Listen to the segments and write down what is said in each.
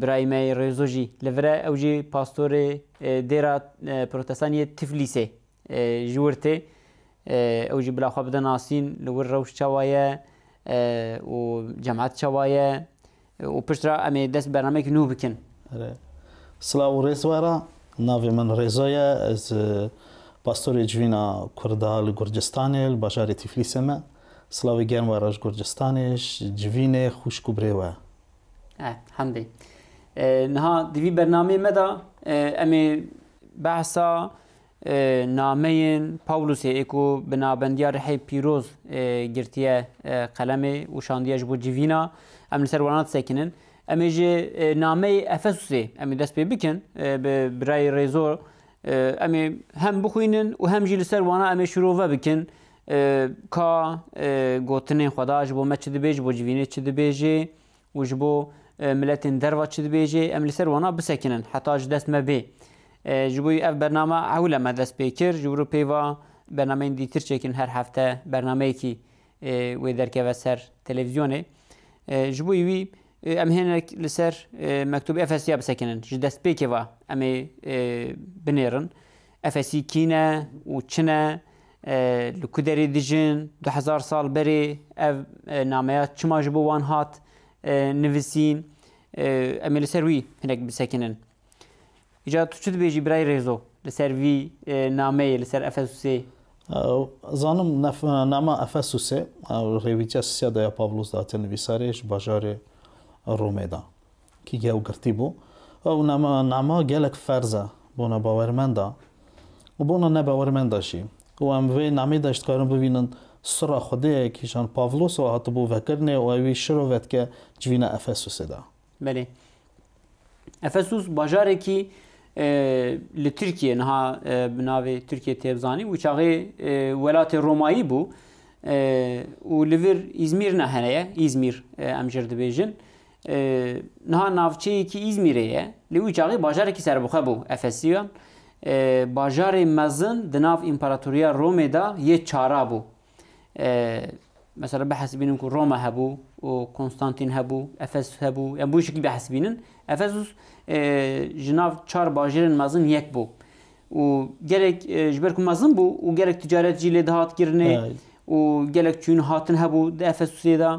Birayê me yê Rêzo jî li vir e, ew jî pastorê dêra protestanê yê Tiflîsê ji wir tê. Ew jî bila xwe bide nasîn li wir rewş çawa ye û cemat çawa ye û piştre em ê dest bi bernameyekî nû bikin. Silav û rêz were. Navê min Rêzo ye. Ez pastorê civîna Kurd a li Gurcistanê li bajarê Tiflîsê me. Silavê germ were ji Gurcistanê, ji civînê, xwişk û birê we. Hemdê. Niha di vî bernameyê me de em ê behsa nameyên Pawlusê ê ku bi nabendiya Rihê Pîroz girtiye qelemê û şandiye ji bo civîna em li ser wan disekinin. Em ê ji nameyê Efesusê em ê dest pê bikin bi birayê rêzo em ê hem bixwînin û hem jî li ser wana em ê şirove bikin Ka gotinên Xweda ji bo me çi dibê, ji bo civînê çi dibêjê û ji bo miletên derva çi dibêjê em li ser wana bisekinin heta ji dest me bê. Ji bo ev bername ewil e me dest pê kir. Ji wir pêva bernameyên dîtir çêkin her hefte bernameyekî wê derkeve ser televîzyonê. Ji bo wî em hênek li ser Mektûbê Efesiya bisekinin. Ji destpêkê ve em ê binêrin. Efesî kî ne û çi ne? Li ku derê dijin? Du hezar sal berê ev nameya çima ji bo wan hat nivisîn? Em ê li ser wî hinek bisekinin. Îca tu çi dibêjî birayê Rêzo li ser vî nameyê li ser Efesusê? Zanim nama Efesusê rêwîtiya Sisiyada ya Pavlûs de hate nivîsarê ji bajarê Romê de. Kî gew girtî bû? Ew nama gelek ferz e bona bawermenda û bona nebawermenda jî û em vê namê de ji dikarin bibînin sira xwediyê kî ji Pavlos re hatibû vekirinê û ewî şiro vedike civîna Efesûsê de. Belê. Efesûs bajarekî li Tirkiyê niha bi navê Tirkiyê tê bizanîn û çaxê welatê Romayî bû û li vir Îzmîr ne hene ye, Îzmîr em jê re dibêjin. Niha navçeyekî Îzmîrê ye, lê wî çaxê bajarekî serbixwe bû. Efesiyan, bajarê mezin di nav Împaratoriya Romê de yê çara bû. Mesela bihesibînin ku Roma hebû û Konstantîn hebû, Efesus hebû, yan bi wî şeklî bihesibînin. Efesus ji nav çar bajêrên mezin yek bû. û gelek ji ber ku mezin bû û gelek ticaret jî lê dihat kirinê û gelek çûyîn hatin hebû di Efesusê de.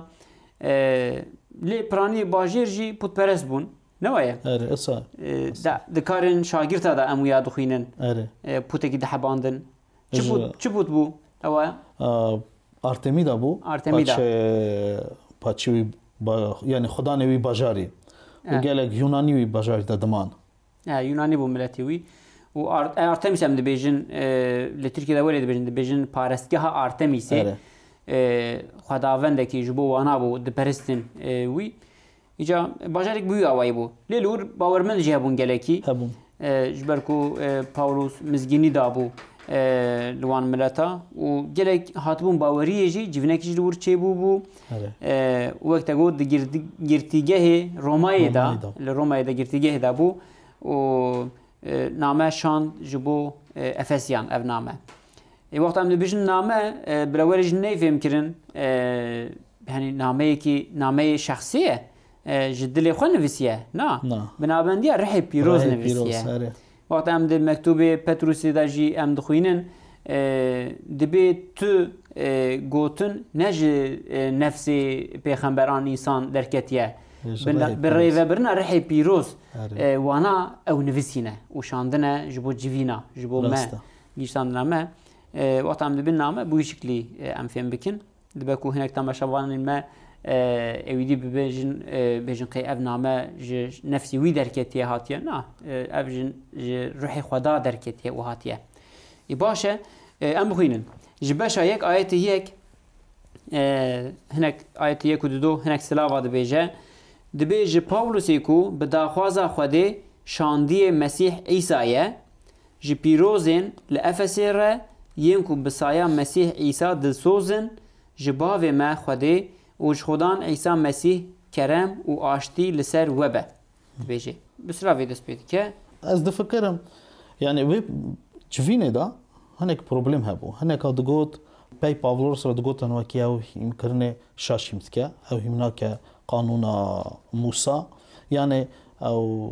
Lê piraniyê bajêr jî putperest bûn. Ne waye? Erê, isa. Di karên şagirta de em wiya dixwînin. Erê. Putekî dihebandin. Çi put, çi put bû? Ewa. Artemida bû. Artemida. Paçî wî, yanî xudanê wî bajarî. Gelek Yûnanî wî bajarî de diman. E, Yunanî bû miletê wî. û e, Artemis em dibêjin e, li Tirkiye de welê dibêjin dibêjin parestgeha Artemisê e, xwedavendekî ji bo wana bû diperistin e, wî îca bajarek bûya wayî bû lê li wir bawermend jî hebûn gelekî hebûn e, ji ber ku e, Pawlos mizgînî dabû li wan mileta û gelek hatibûn baweriyê jî civînekî jî li wir çêbû bû û wek te got di girtîgehê Romayê de li Romayê de girtîgehê de bû û name şand ji bo Efesyan ev name. Ê wexta em dibêjin name birewerê jin ney fêm kirin henî nameyekî nameyê şexsî ye ji dilê xwe nivîsiye na binabendiya rihê pîroz nivîsiye. Wexta em di mektûbê Petrûsê de jî em dixwînin, Dibê tu gotin ne ji nefsê pêxemberan însan derketiye, bi rêvebirina rihê pîroz wana ew nivîsîne û şandine ji bo civîna, ji bo me, gihîştandina me. Wexta em dibin name bi wî şiklî em fêm bikin. Dibe ku hinek temaşevanên me êwîdî bibêjin bêjin qey ev name ji nefsê wî derketiye hatiye. Na, ev ji ji ruhê Xweda derketiye û hatiye. Ê baş e em bixwînin. Ji beşa yek ayetê yek hinek ayetê yek û du do hinek silava dibêje. Dibêje Pawlusê ku bi daxwaza Xwedê şandiye Mesîh Îsa ye, Ji pîrozên li Efesê re yên ku bi saya Mesîh Îsa dilsoz in, ji Bavê me Xwedê û ji Xwedan Îsa Mesîh kerem û aştî li ser we be. Dibêje. Bi silavê dest pê dike. Ez difikirim, yanî wê civînê de hinek problêm hebû. Hineka digot, pey Pavlos re digotin wekî ew hîm kirinê şaş hîm dike, ew hîm nake qanûna Mûsa, yanî ew,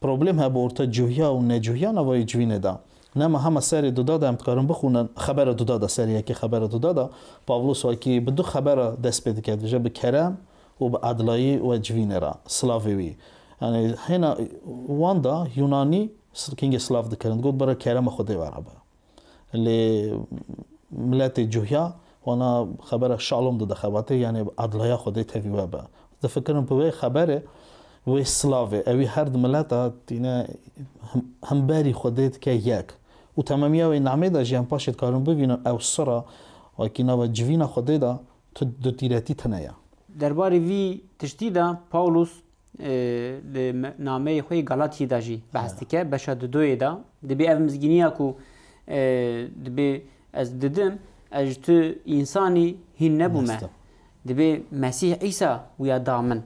Problem hebe orta cuhya û necuhya navayê civînê de. Nema hema serê duda de em dikarin bixwînin, xebera duda de, serê yekê xebera duda de, Pavlo Swaki bi du xebera dest pê dike, dibije bi kerem û bi edilayî we civînê re, slavê wî. Yanî hêna wan de Yûnanî kingê slav dikirin, digot bira kerema xwedê were be. Lê miletê cuhya wana xebera şalom dide xebatê yanê adlaya xwedê tevî we be. Difikirim bi wê xeberê wê silavê ewî her di mileta tîne himberî xwedê dike yek û tememîya wê namê de jî em paşê dikarin bivînin ew sira wekî nava civîna xwedê de tu dutîretî tine ye. Derbarê vî tiştî de Pawlos Li nameyê xwe yê Galatiyê de jî behs dike, beşa dudoyê de dibê ev mizgîniya ku dibê ez didim, ez ji tu însanî hîn nebûme. Dibê Mesîh Îsa wîya da min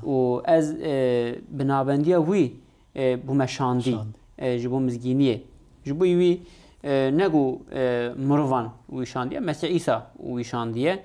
û ez bi nabendiya wî bûme şandî ji bo mizgîniyê. Ji bo wî ne ku mirovan wî şandiye, Mesîh Îsa wî şandiye.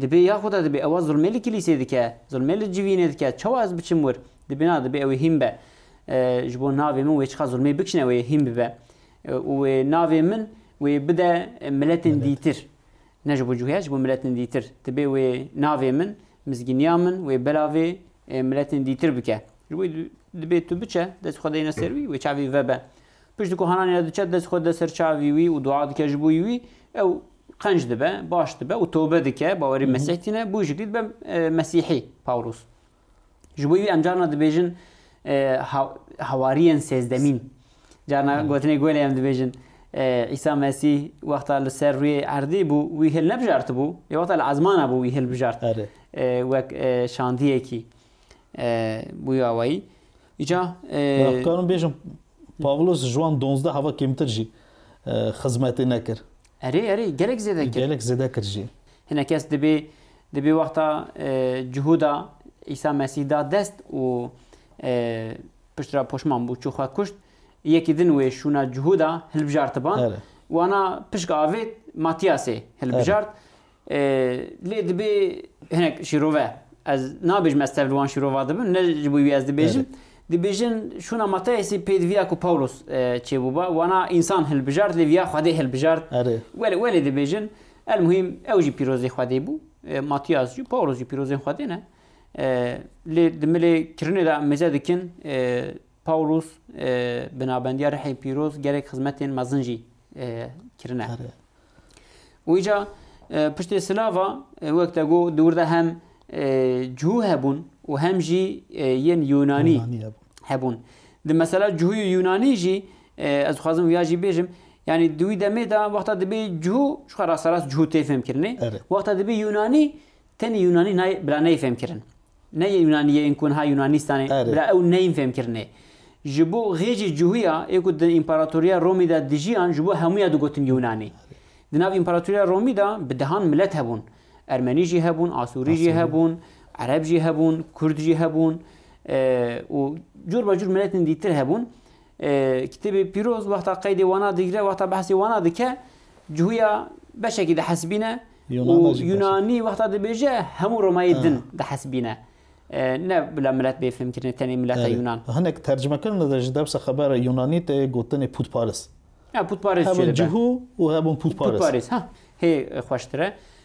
Dibê ya xwe de dibê ewa zilmê li kilîsê dike, zilmê li civînê dike, çawa ez biçim wir? Dibê na, dibê ew ê hîn be. Ji bo navê min wê çiqas zilmê bikişne ew ê hîn bibe û wê navê min wê bide miletên dîtir. Ne ji bo cuhya, ji bo miletên dîtir. Dibê wê navê min, mizgîniya min wê belavê miletên dîtir bike. Ji bo dibê tu biçe, dest xwe deyne ser wî, wê çavî vebe. Pişt ku hananê re diçe, dest xwe dide ser çavî wî û dua dike ji bo wî, ew Qenc dibe, baş dibe û tobe dike, bawerî Mesîh tîne, bû jiklî dibe Mesîhî, Pawlos. Ji bo wî em carna dibêjin hewariyên sêzdemîn. Carna gotinê golê em dibêjin. Îsa Mesîh wexta li ser rûyê erdê bû, wî hil nebijartibû, lê wexta li ezmana bû wî hil bijart. Wek şandiyekî bûya wayî. Îca dikarim bêjim Pawlos ji wan donzdeh hava kêmtir jî xizmetê nekir. Erê, erê, gelek zêde kir. Gelek zêde kir jî. Hinekes dibê, dibê wexta cuhuda Îsa Mesîh da dest û pişt re poşman bû, çû xwe kuşt. Yekî din wê şûna cuhuda hilbijartiban. Wana pişk avêt Matîyasê hilbijart. Lê dibê hinek şîrove, ez nabêjim ez tev li wan şîrova dibim, ne ji bo wî ez dibêjim, dibêjin şûna Mateyasî pê di viya ku Pawlos çêbûba, wana însan hilbijart lê viya Xwedê hilbijart. Welê welê dibêjin el muhîm ew jî pîrozê Xwedê bû. Matiyas jî Pawlos jî pîrozên Xwedê ne. Lê di milê kirinê de em mêze dikin Pawlos binabendiya rihê pîroz gelek xizmetên mezin jî kirine. Wîca piştê silava wek te got dûr de hem cihû hebûn û hem jî yên Yûnanî hebûn. Di mesela cihû û Yûnanî jî ez dixwazim ya jî bêjim yanî di wî demê de wexta dibê cihû ji xwe rasterast cihû tê fêmkirinê wexta dibê Yûnanî tenê Yûnanî bila neyê fêmkirin. Ne yên Yunanî ye yên ku niha Yunanîstanê Erê. bila ew neyên fêmkirinê. Ji bo ghêcê cihûya ê ku di Împaratoriya Romî de dijiyan ji bo hemû ya digotin Yunanî. Di nav Împaratoriya Romî de bi dehan milet hebûn. Ermenî jî hebûn, Asûrî jî hebûn, Ereb jî hebûn, Kurd jî hebûn û cor be cor miletên dîtir hebûn. Kitêbê Pîroz wexta qeydê wana digire, wexta behsê wana dike, cuhuya beşekî dihesibîne û Yunanî wexta dibêje hemû Romayê din dihesibîne. Ne bila milet bê fêmkirinê tenê mileta Yunan. Hinek tercimekirina de ji dewsa xebera Yunanî de gotinê pûtparis. Pûtparis jê dibe. Hebûn cuhû û hebûn pûtparis. Pûtparis, ha hê xweştir e.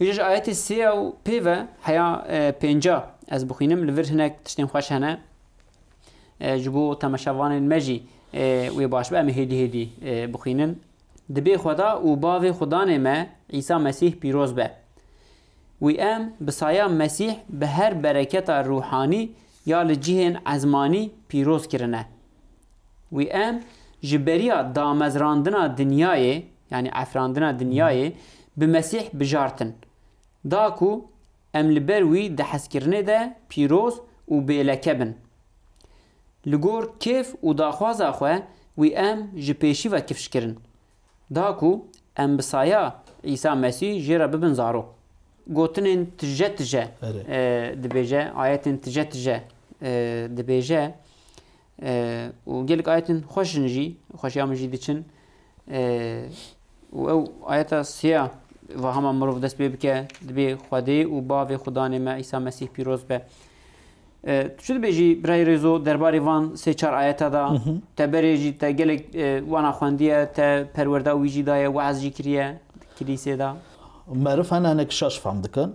Îja ji ayetê sê ya û pê ve heya pênca ez bixwînim li vir hinek tiştên xweş hene ji bo temeşevanên me jî wê baş be em hêdî hêdî bixwînin. Dibê Xweda û Bavê Xwedanê me Îsa Mesîh pîroz be. Wî em bi saya Mesîh bi her bereketa rûhanî ya li cihên ezmanî pîroz kirine. Wî em ji beriya damezrandina dinyayê, yanî efrandina dinyayê, bi Mesîh bijartin. Da ku em li ber wî di hezkirinê de pîroz û bêleke bin. Li gor kêf û daxwaza xwe wî em ji pêşî ve kifş kirin. Da ku em bi saya Îsa Mesîh jê re bibin zarok. Gotinên tije tije dibêje, ayetên tije tije dibêje. û gelek ayetin xweş in jî xweşiya min jî diçin û ew ayeta siya vahama mirov dest pê bike dibê Xwedê û bavê Xudanê me Îsa Mesîh pîroz be. Tu çi dibêjî birayê rêzo derbarê van sê çar ayeta da te berê jî te gelek wana xwendiye te perwerda wî jî daye waz jî kiriye kilîsê da. Meriv hene hinek şaş fam dikin.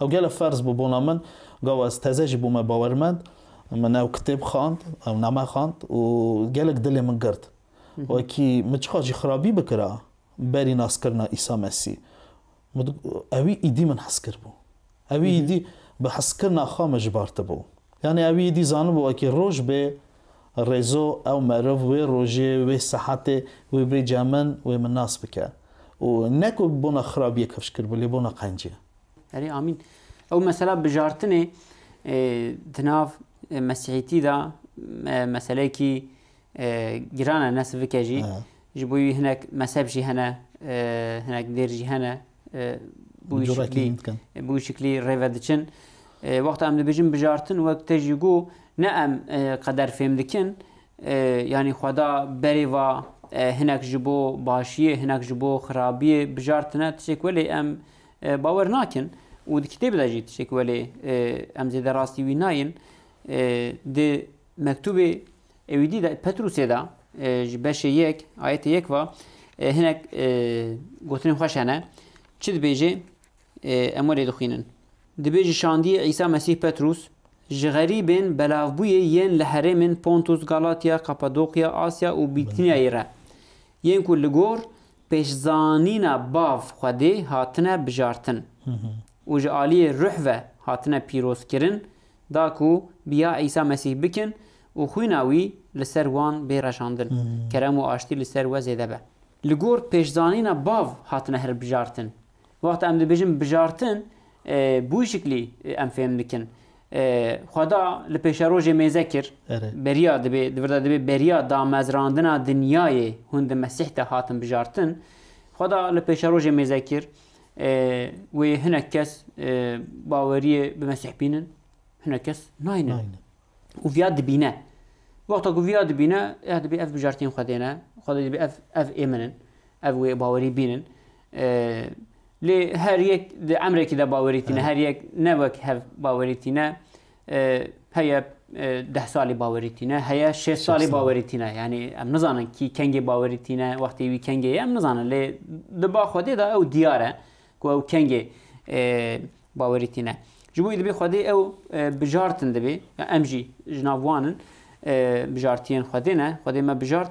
Ew gelek ferz bû bona min. Gava ez teze jî bûme bawermend. Min ew kitêb xand, ew name xand û gelek dilê min girt. Wekî min çiqas jî xirabî bikira berî naskirina Îsa Mesî, ewî îdî min hes kiribû. Ewî îdî bi heskirina xwe min jibartibû. Yanî ewî îdî zanibû wekî roj bê Rêzo ew meriv wê rojê, wê sehetê, wê bêca min, wê min nas bike. Û ne ku bona xirabiyê kevş kiribe, lê bona qencê. Erê amîn. Ew mesela bijartinê di nav mesîhîtî de meseleyekî giran e ne sivik e jî. Ji bo wî hinek mezheb jî hene, hinek dêr jî hene bi wî şiklî rê ve diçin. Wexta em dibêjin bijartin wek te jî got ne em qeder fêm dikin yanî xweda berê va hinek ji bo başiyê hinek ji bo xirabiyê bijartine tişek welê em bawer nakin û di kitêb de jî tişek welê em zêde rastî wî nayên di mektubê Ewî dî de Petrûsê de ji beşê yek ayetê yek ve hinek gotinên xweş hene. Çi dibêje? Em welê dixwînin. Dibêje şandiyê Îsa Mesîh Petrûs ji xerîbên belavbûyê yên li herêmên Pontus, Galatya, Kapadoqya, Asya û Bîtniyayê re yên ku li gor pêşzanîna bav Xwedê hatine bijartin û ji aliyê ruh ve hatine pîrozkirin da ku biya Îsa Mesîh bikin û xwîna wî li ser wan bê reşandin, kerem û aştî li ser we zêde be. Li gor pêşzanîna bav hatine hilbijartin. Wexta em dibêjin bijartin, bi wî şiklî em fêm dikin. Xweda li pêşerojê mêze kir, beriya dibê, di vir de dibê beriya damezrandina dinyayê hûn di Mesîh de hatin bijartin. Xweda li pêşerojê mêze kir, wê hinek kes baweriyê bi Mesîh bînin, hinek kes naynin. Û viya dibîne. Wexta ku viya dibîne, ya dibê ev bijartiyên xwe dêne, xwe dibê ev ev ê min in, ev wê bawerî bînin. Lê her yek di emrekî de bawerî tîne, her yek ne wek hev bawerî tîne. Heye deh salî bawerî tîne, heye şêst salî bawerî tîne. Yanî em nizanin kî kengê bawerî tîne, wextê wî kengê ye em nizanin. Lê di ba Xwedê de ew diyar e ku ew kengê bawerî tîne. Ji bo wî dibê Xwedê ew bijartin dibê. Em jî ji nav wan in bijartiyên Xwedê ne. Xwedê me bijart.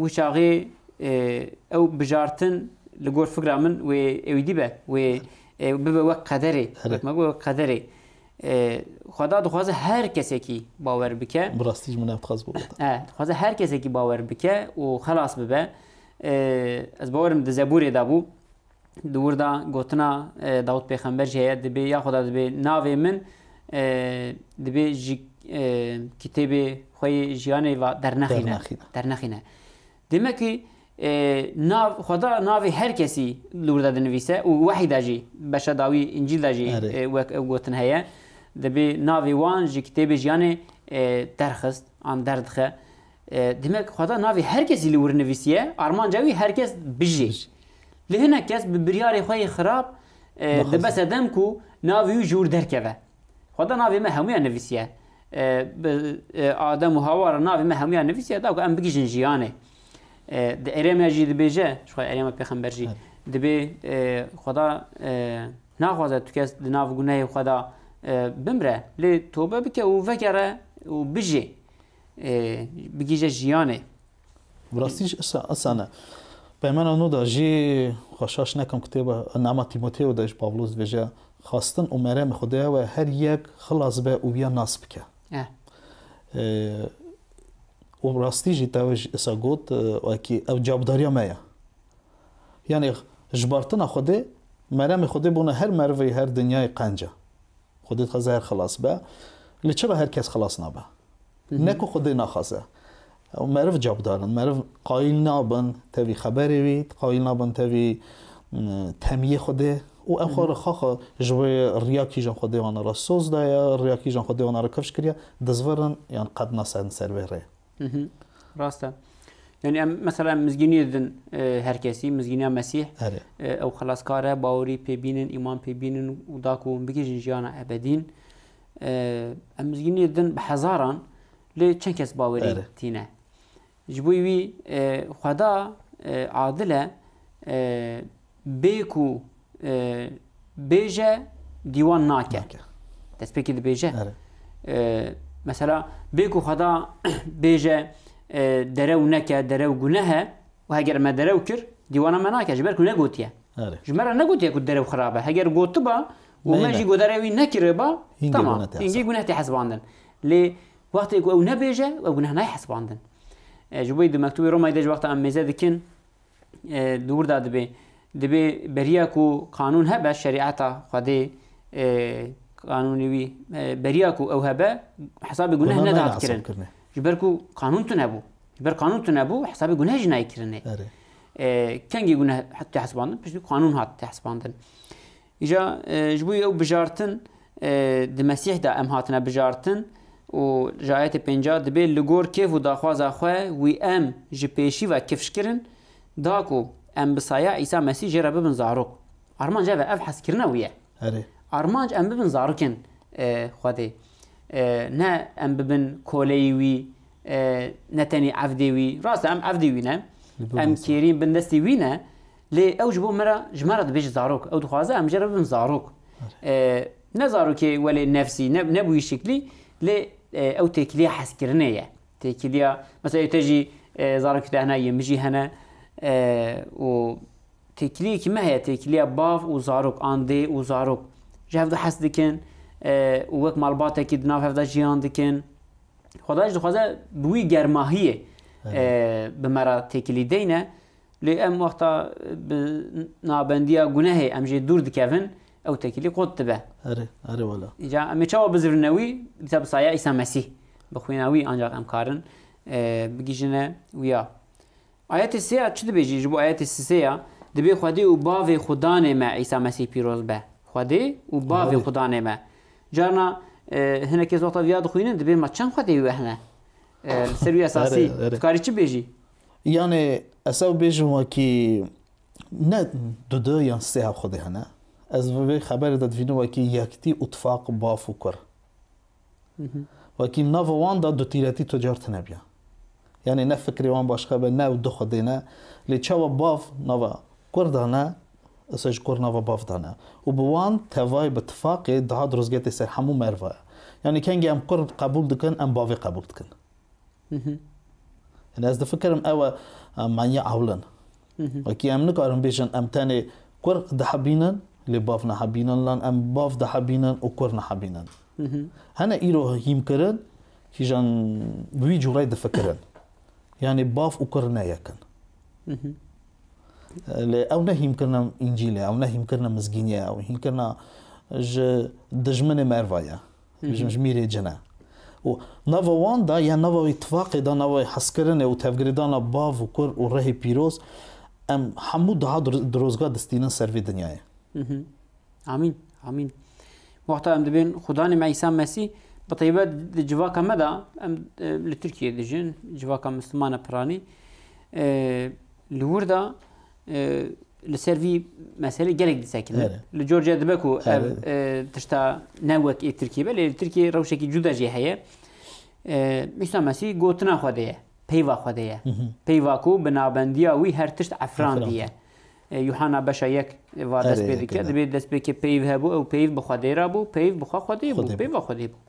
Wî çaxê ew bijartin li gor fikra min wê êwîdî be, wê bibe wek qederê, wek me got wek qederê. Xweda dixwaze her kesekî bawer bike. Bi rastî ji min ev dixwaz bû. E, dixwaze her kesekî bawer bike û xelas bibe. Ez bawerim di zeburê de bû. Di wir de gotina Dawûd pêxember jî heye dibê ya Xweda dibê navê min dibê ji kitêbê xwe yê jiyanê ve dernexîne. Dernexîne. Demekî nav Xweda navê her kesî li wir de dinivîse û wehî de jî beşa dawî încîl de jî wek ew gotin heye. Dibê navê wan ji kitêbê jiyanê derxist an derdixe. Demek xweda navê her kesî li wir nivîsiye, armanca wî her kes bijî. Lê hinek kes bi biryarê xwe yê xirab dibe sedem ku navê wî ji wir derkeve. Xweda navê me hemûyan nivîsiye. Bi Adem û Hawa re navê me hemûyan nivîsiye da ku em bigihîjin jiyanê. Di erême jî dibêje, jixwe erêma pêxember jî dibê xweda naxwaze tu kes di nav gunehê xwe de bimre. Lê tobe bike û vekere û bijî. bigihîje jiyanê. Bi rastî jî esa ne. Peymana nû de jî xwe şaş nekim kitêba Nama Tîmoteo de jî Pawlos dibêje, Xastin û meremê Xwedaya we her yek xilas be û wiya nas bike. Û bi rastî jî tewê jî esa got wekî ev cavdariya me ye. Yanî ji bartina Xwedê meremê Xwedê bûna her merivê her dinyayê qence. Xwedê dixwaze her xelas be. Lê çima her kes xelas nabe? Ne ku Xwedê naxwaze. Ew meriv cavdar in. Meriv qayîl nabin tevî xeberê wî, qayîl nabin tevî temiyê Xwedê û ew xwe rixaxa ji wê riya kîjan Xwedê wan re soz daye, riya kîjan Xwedê wan re kevş kiriye, dizvirin yan qet nasedin ser vê rê. Rast e. Yani em mesela em mizgînî didin e, her kesî, mizgîniya Mesîh. Erê. E, ew xelaskar e, bawerî pê bînin, îman pê bînin û da ku hûn bigihîjin jiyana ebedîn. E, em mizgînî didin bi hezaran lê çend kes bawerî Erê. tîne. Ji bo wî e, xweda e, adil e e, Bê ku bêje dîwan nake. Destpêkê dibêje. Mesela bê ku xweda bêje derew neke, derew gunehe û heger me derew kir dîwana me nake ji ber ku negotiye. Ji me re negotiye ku derew xirab e. Heger gotiba û me jî godarê wî nekiriba tamam hingî guneh tê hesibandin. Lê wextê ku ew nebêje ew guneh nayê hesibandin. Ji bo yî di mektûbê Romayê de ji wexta em mêze dikin dûr da dibê. Dibê beriya ku qanûn hebe şerîeta Xwedê qanûnê wî beriya ku ew hebe hesabê guneh nedat kirin. Ji ber ku qanûn tune bû. Ji ber qanûn tune bû hesabê guneh jî nayê kirinê. Kengî guneh hesibandin piştî qanûn hat hesibandin. Îja ji bo ew bijartin di Mesîh de em hatine bijartin û ji ayetê pêncî dibê li gor kêf û daxwaza xwe wî em ji pêşî ve kifşkirin da ku em bi saya Îsa Mesîh jê re bibin zarok. Armanc ev e, ev hezkirina wî ye. Erê. Armanc em bibin zarokên Xwedê. Ne em bibin koleyî wî, ne tenê evdê wî. Rast e em evdê wî ne, em kêrîn bin destê wî ne, Lê ew ji bo me re, ji me re dibêje zarok. Ew dixwaze em jê re bibin zarok. Ne zarokê welê nefsî, ne ne bi wî şiklî, lê ew têkiliya hezkirinê ye. Têkiliya mesela te jî zarokê te hene yên min jî hene û têkiliyekî me heye têkiliya bav û zarok an dê û zarok ji hev de hes dikin û wek malbatekî di nav hev de jiyan dikin. Xweda jî dixwaze bi wî germahiyê bi me re têkilî deyne. Lê em wexta bi nabendiya gunehê em jê dûr dikevin, ew tekîlî qut dibe. Erê, erê wele. Îca em ê çawa bizirine wî? Dîsa bi saya Îsa Mesîh, bi xwîna wî ancaq em karin bigihîjine wî ya. Ayetê sê ya çi dibêjî? Ji bo ayetê sisê ya dibê Xwedê û Bavê xwe danê me Îsa Mesîh pîroz be. Xwedê û Bavê xwe danê me. Carna hinek kes wexta vî ya dixwînin dibê me çend Xwedê wî wehne. Li ser wî esasî dikarî çi bêjî? Yanê ez ew bêjim wekî ne du du yan sê hevxwedê hene. Ez bi vê xeberê de divînim wekî yektî û tifaq baf û kur. Wekî nava wan de dutîretî tu car tune biya. Yanê ne fikrê wan başka be ne ew du xwedê ne. Lê çawa bav nava kur de ne ez ji kur nava bav de ne. Û bi wan tevayê bi tifaqê dihat ruzgetê ser hemû merva ye. Yanê kengê em kur qebûl dikin em bavê qebûl dikin. Yanî ez difikirim ew e manyê ewlin. Wekî em nikarin bêjin em tenê kur dihebînin lê bav nehebînin lan em bav dihebînin û kur nehebînin. Hene îro hîmkirin kîjan bi wî cûreyê difikirin. Yanî bav û kur ne yek in. Lê ew ne hîmkirina Încîlê, ew ne hîmkirina mizgîniyê, ew hîmkirina ji dijminê merva ye. Bêjim ji mîrê cin e. Û nava wan de ya nava wî tifaqê de nava wî hezkirinê û tevgirêdana bav û kur û rihê pîroz em hemû diha dirozga distînin ser vê dinyayê. Amîn. Amîn. Wexta em dibên xudanê me Îsa Mesîh bi taybet di civaka me de em li Tirkiyeyê dijin, civaka Mislumana Piranî li wir de Li ser vî meselê gelek disekine. Li Georgia dibe ku ev tişta ne wek ê Tirkiye be lê li Tirkiye rewşekî cuda jê heye. Mîsa Mesî gotina xwe de ye, peyva xwe de ye. Peyva ku bi nabendiya wî her tişt efrandî ye. Yuhana beşa yek va dest pê dike, dibê dest pê ke peyv hebû ew peyv bi xwe dê ra bû, peyv bi xwe xwe dê bû, peyva xwe dê bû.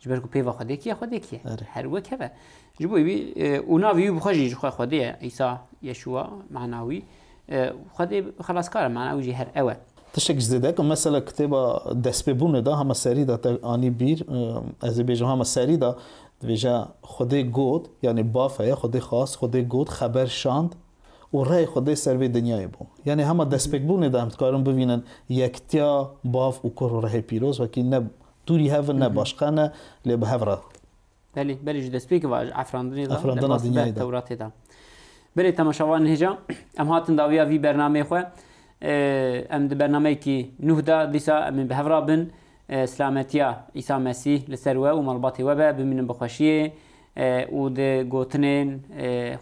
Ji ber ku pêva Xwedê kiye Xwedê kiye. Her wek heve. Ji bo wî û navî wî bixwe jî ji xwe Xwedê ye Îsa Yeşûwa mana wî Xwedê xelaskar e mana wî jî her ew e. Tiştek ji zêde ku mesela kitêba destpêbûnê de hema serî de te anî bîr ez ê bêjim hema serî de dibêje Xwedê got yanî baf heye Xwedê xwast Xwedê got xeber şand û reyê Xwedê ser vê dinyayê bû. Yanî hema destpêkbûnê de em dikarin bivînin yektiya bav û kur û rehê pîroz wekî ne Tûrî hev ne başqa ne lê bi hev re. Belê, belê ji destpêkê ve ji efrandinê de li bas be Tewratê de. Belê temaşavanên hêja em hatin dawiya vî bernameyê xwe. Em di bernameyekî nûh de dîsa em ê bi hev re bin. Silametiya Îsa Mesîh li ser we û malbatê we be, bimînin bi xweşiyê û di gotinên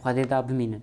Xwedê de bimînin.